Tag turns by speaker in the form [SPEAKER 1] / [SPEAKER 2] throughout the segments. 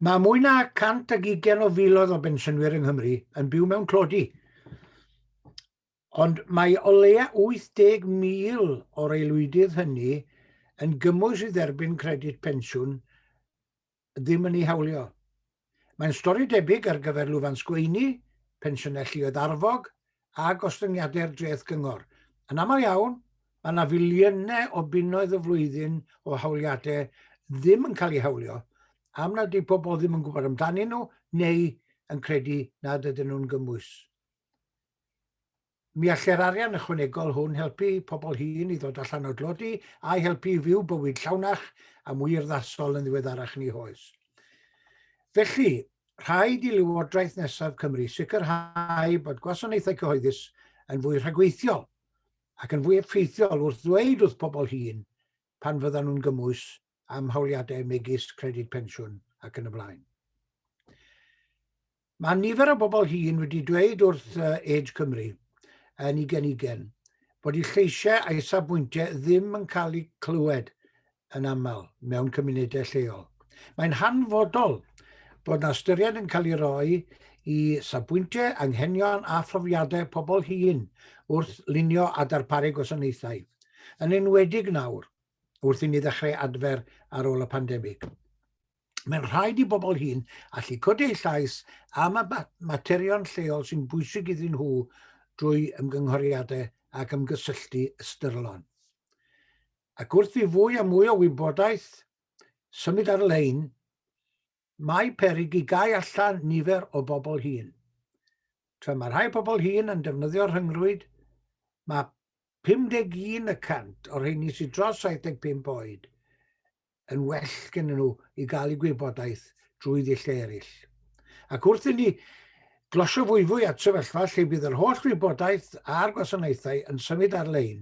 [SPEAKER 1] Mae mwy na 120 o filoedd o bensiynwyr yng Nghymru yn byw mewn tlodi, ond mae o leia 80,000 o'r aelwydydd hynny yn gymwys i dderbyn credyd pensiwn ddim yn ei hawlio. Mae'n stori debyg ar gyfer lwfans gweini, pensiynau lluoedd arfog a gostyngiadau'r dreth gyngor. Yn aml iawn, mae yna filiynau o bunnoedd y flwyddyn o hawliadau ddim yn cael eu hawlio am nad ydy pobl ddim yn gwybod amdanyn nhw neu yn credu nad ydyn nhw'n gymwys. Mi allai'r arian ychwanegol hwn helpu pobl hŷn i ddod allan o dlodi a'i helpu i fyw bywyd llawnach a mwy urddasol yn ddiweddarach yn eu hoes. Felly, rhaid i Lywodraeth nesaf Cymru sicrhau bod gwasanaethau cyhoeddus yn fwy rhagweithiol ac yn fwy effeithiol wrth ddweud wrth pobl hŷn pan fyddan nhw'n gymwys am hawliadau megis credyd pensiwn ac yn y blaen. Mae nifer o bobl hŷn wedi dweud wrth Age Cymru yn ei genigen bod eu lleisiau a'i safbwyntiau ddim yn cael eu clywed yn aml mewn cymunedau lleol. Mae'n hanfodol bod na ystyried yn cael ei roi i safbwyntiau, anghenion a phrofiadau pobl hŷn wrth lunio a darparu gwasanaethau, yn enwedig nawr wrth i ni ddechrau adfer ar ôl y pandemig. Mae'n rhaid i bobl hyn allu codi eu llais am y materion lleol sy'n bwysig iddyn nhw drwy ymgynghoriadau ac ymgysylltu ystyrlon. Ac wrth i fwy a mwy o wybodaeth symud ar-lein, Mae peryg i gau allan nifer o bobl hŷn. Tra mae rhai pobl hŷn yn defnyddio'r rhyngrwyd, mae 51 y cant o'r rheini sydd dros 75 oed yn well gen nhw i gael eu gwybodaeth drwy ddulliau eraill. Ac wrth inni glosio fwyfwy at sefyllfa lle bydd yr holl wybodaeth a'r gwasanaethau yn symud ar-lein,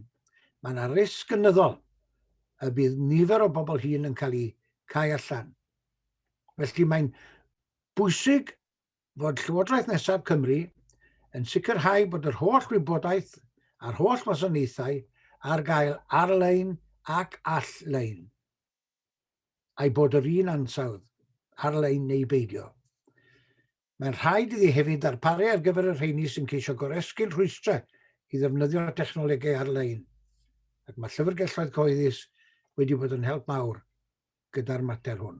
[SPEAKER 1] mae yna risg gynyddol y bydd nifer o bobl hŷn yn cael eu cau allan Felly mae'n bwysig fod Llywodraeth Nesaf Cymru yn sicrhau bod yr holl wybodaeth a'r holl wasanaethau ar gael ar-lein ac all-lein, a'i bod yr un ansawdd, ar-lein neu beidio. Mae'n rhaid iddi hefyd ddarparu ar gyfer y rheini sy'n ceisio goresgyn rhwystrau i ddefnyddio technolegau ar-lein, ac mae llyfrgelloedd cyhoeddus wedi bod yn help mawr gyda'r mater hwn.